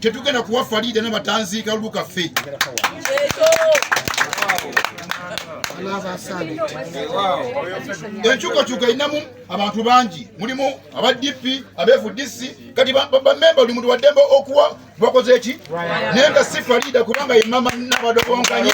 tetugenda kuwa faliida nabatanziika lukaffe enkyukakyuka erinamu abantu bangi mulimu aba dp abfdc kati bamemba buli muntu waddembe okuwa bakoze eki naye nga si faliida kubanga yemama nabadobonkanye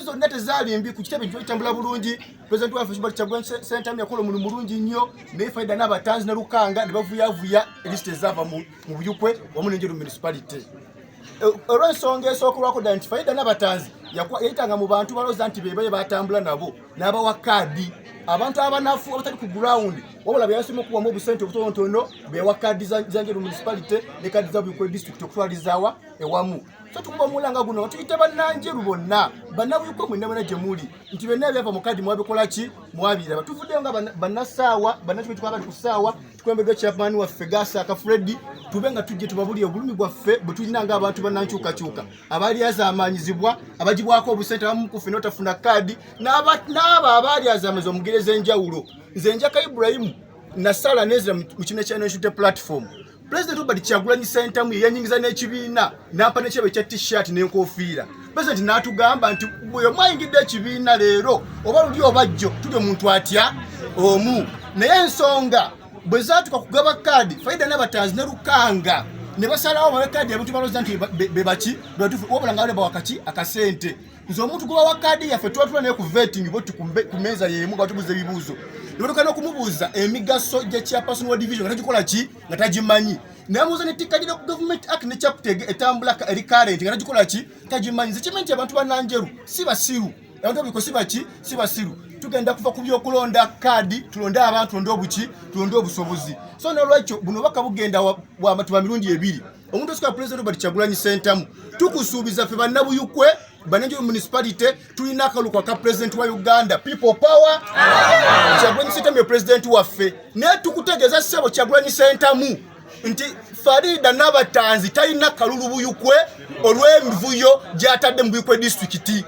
zonna tezaali mbi ku kitebe kitambula bulungi President waffe Hubert Kyagulanyi Ssentamu yakola omulimu mulungi nnyo naye Faida n'abatanzi ne Lukanga ne bavuyavuya lisiti ezaava mu Buyukwe wamu n'Enjeru municipality. E, olw'ensonga esookerwako ddala nti Faida n'abatanzi yayitanga mu bantu balooza nti be baye batambula nabo n'abawa kaadi abantu abanafu abatali ku gurawundi wabula be yasoma okuwamu obusente obutonotono be yawa kaadi za Njeru municipality ne kaadi za Buyukwe district okutwalizaawa ewamu. So tukuba omulanga guno tuyite bannanjeru bonna bannabuyukwe mwenna bana gye muli nti byonna ebyava mu kadi mwabikola ki mwabiraba tuvuddeyo nga bannasaawa bannakiko kikuba bali ku ssaawa tukulembeddwa chairman waffe gasaaka freddi tube nga tujje tubabulire obulumi bwaffe bwe tulina nga abantu bannankyukakyuka abalyazaamaanyizibwa abagibwako obusente abamu kuffe n'otafuna kaadi n'abo abaalyazaamaza omugere ez'enjawulo nze njaka iburayimu nasala nezira mu kibiina kya nationality platform President Robert Kyagulanyi Ssentamu yanyingiza n'ekibiina n'ampa n'ekyebo ekya t-shirt n'enkofiira president n'atugamba nti bwe mwayingidde ekibiina leero oba luli oba jjo tuli omuntu atya omu naye ensonga bwe zaatuka kugaba kaadi faida n'abatanzi ne lukanga ne basalawo bawe kaadi abantu balooza nti be baki bebatufu wabula nga bale bawakaki akasente nze omuntu gwe bawa kaadi yaffe tuba tula naye ku vetting boti ku meeza yeemu nga tubuuza ebibuuzo nebatuuka n'okumubuuza emigaso gya chairperson wa division nga tagikola ki nga tagimanyi namuuza ne tikka gino ku government act ne chaptege etambula eri current nga tagikola ki tagimanyi nze kimanyi nti abantu bananjeru si basiru abantu abiko si baki si basiru tugenda kuva ku byokulonda kaadi tulonde abantu tulonde obuki tulonde obusobozi so nolwekyo buno baka bugenda wamatuba mirundi ebiri omuntu osika president Robert Kyagulanyi Sentamu tukusuubiza ffe bannabuyukwe banenjo municipality tulina akaluko aka president wa Uganda people power Kyagulanyi Sentamu ye president waffe naye tukutegeeza ssebo Kyagulanyi Sentamu nti Farida Nabatanzi talina kalulu buyukwe olw'emivuyo gy'atadde mu buyukwe disitulikiti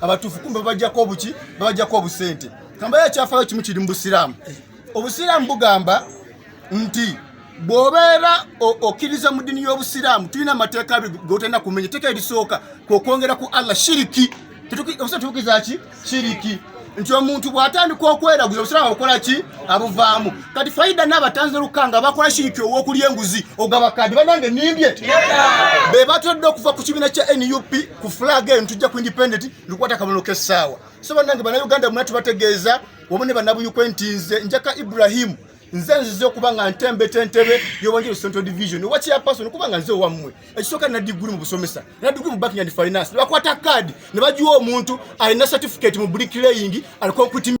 abatuufu kumbe babajjako obuki babajjako obusente kambayo ekyafayo kimu kiri mu busiraamu obusiraamu bugamba nti bw'obeera okkiriza mu ddini y'obusiraamu tulina amateeka abiri gotalina kumenya etteeka erisooka kwokwongera ku allah shiriki obusa tubukiza ki shiriki nti omuntu bw'atandika okweraguza obusiraamu abukola ki abuvaamu kati faida n'abatanzi olukanga bakola shiriki ow'okulya enguzi ogabakadi banange nimbye be batodde okuva ku kibiina kya nup ku flag eno tujja ku independent lukwata kabonero k'essaawa so bannange bannayuganda muna tubategeeza wamu ne bannabuyukwe nti nze njaka ibrahimu nze nzize okuba nga ntembeta entebe yobanjiro central division owa chairperson okuba nga nze owammwe ekisooka nina diguli mu busomesa nina diguli mu banking and finance nebakwata kaadi ne bagiwa omuntu alina certificate mu bricklaying aliko nkuti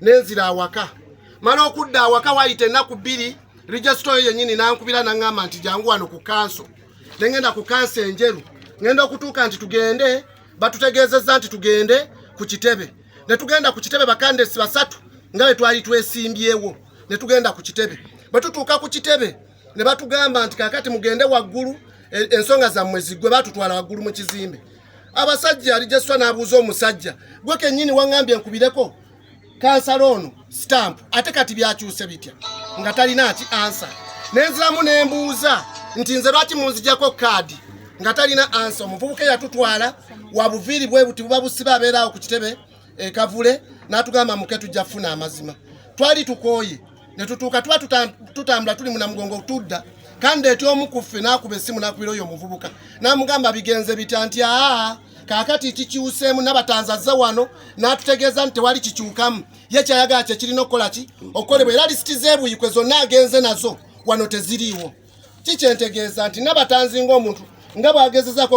nenzira awaka mala okudda awaka wayita ennaku bbiri regisita oyo yennyini nankubira naŋŋamba nti jangu wano ku kanso ne ŋŋenda ku kanso enjeru ŋŋenda okutuuka nti tugende batutegeezezza nti tugende ku kitebe ne tugenda ku kitebe bakandesi basatu nga bwe twali twesimbyewo ne tugenda ku kitebe bwe tutuuka ku kitebe ne batugamba nti kakati mugende waggulu e, ensonga zammwe ziggwe batutwala waggulu mu kizimbe abasajja alijeswa nabuuza omusajja gwe kenyini wangambye nkubireko kansala ono stamp ate kati byakyuse bitya nga talina ki ansa nenziramu nembuuza nti nze lwaki munzijako kaadi nga talina ansa omuvubuka eyatutwala wabuviiri bwe buti buba busiba abeeraawo ku kitebe ekavule eh, n'atugamba muke tujja kufuna amazima twali tukooye ne tutuuka tuba tutambula tuli munamugongo tudda kandi eti omu ku ffe n'akuba essimu n'akubira oyo omuvubuka n'amugamba bigenze bitya nti aa kaakati kikyuseemu nabatanzazze wano n'atutegeeza nti tewali kikyukamu ye kyayagala kye kirina okukola ki okukolebwa era lisiti z'ebuyikwe zonna agenze nazo wano teziriiwo kikyentegeeza nti nabatanzi ng'omuntu nga bw'agezezaako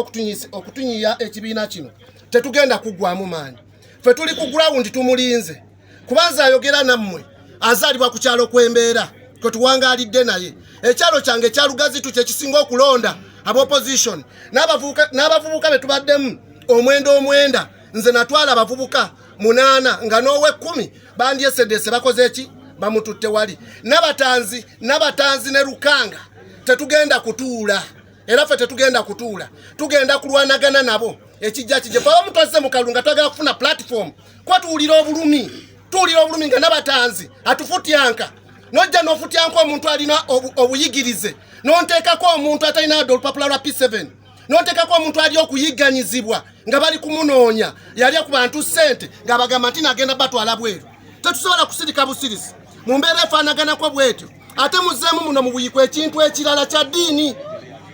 okutunyiya ekibiina kino tetugenda kuggwamu maanyi ffe tuli ku gurawundi tumulinze kubanza ayogera nammwe azaalibwa ku kyalo kw'embeera kwe tuwangaalidde naye ekyalo kyange ekya lugazitu kye kisinga okulonda abaopposition n'abavubuka be tubaddemu omwenda omwenda nze natwala abavubuka munaana nga n'ow'ekkumi bandyesedeese bakoze ki bamututte wali nabatanzi nabatanzi ne lukanga tetugenda kutuula era ffe tetugenda kutuula tugenda kulwanagana nabo ekijja kije fe abamukozze mu kalunga twagala kufuna platform kuba tuwulira obulumi tuwulira obulumi nga nabatanzi atufutyanka nojja nofutyanka omuntu alina obuyigirize nonteekako omuntu atalina adde olupapula lwa p7 nonteekako omuntu ali okuyigganyizibwa nga bali kumunoonya yalya ku bantu ssente ng'abagamba nti nagenda batwala bweru tetusobola kusirika busirisi mu mbeera efaanaganako bwetyo ate muzeemu muno mubuyikwa ekintu ekirala kya ddiini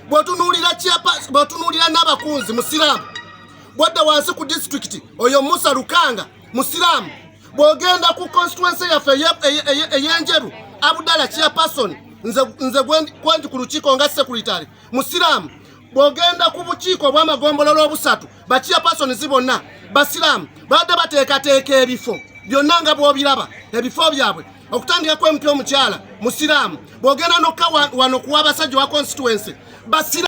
bwotunuulira n'abakunzi musiraamu bwadda wansi ku disitulikiti oyo musa lukanga musiraamu bwogenda ku constituency yaffe eyenjeru abudala chairperson nze kwendi ku lukiiko nga sekuritary musiraamu bwogenda ku bukiiko obwamagombolola obusatu bachairpersons bonna basiraamu babadde bateekateeka ebifo byonna nga bwobiraba ebifo byabwe okutandika kwemutya omukyala musiraamu bwogenda nokka wano kuwa abasajja wa constituency basira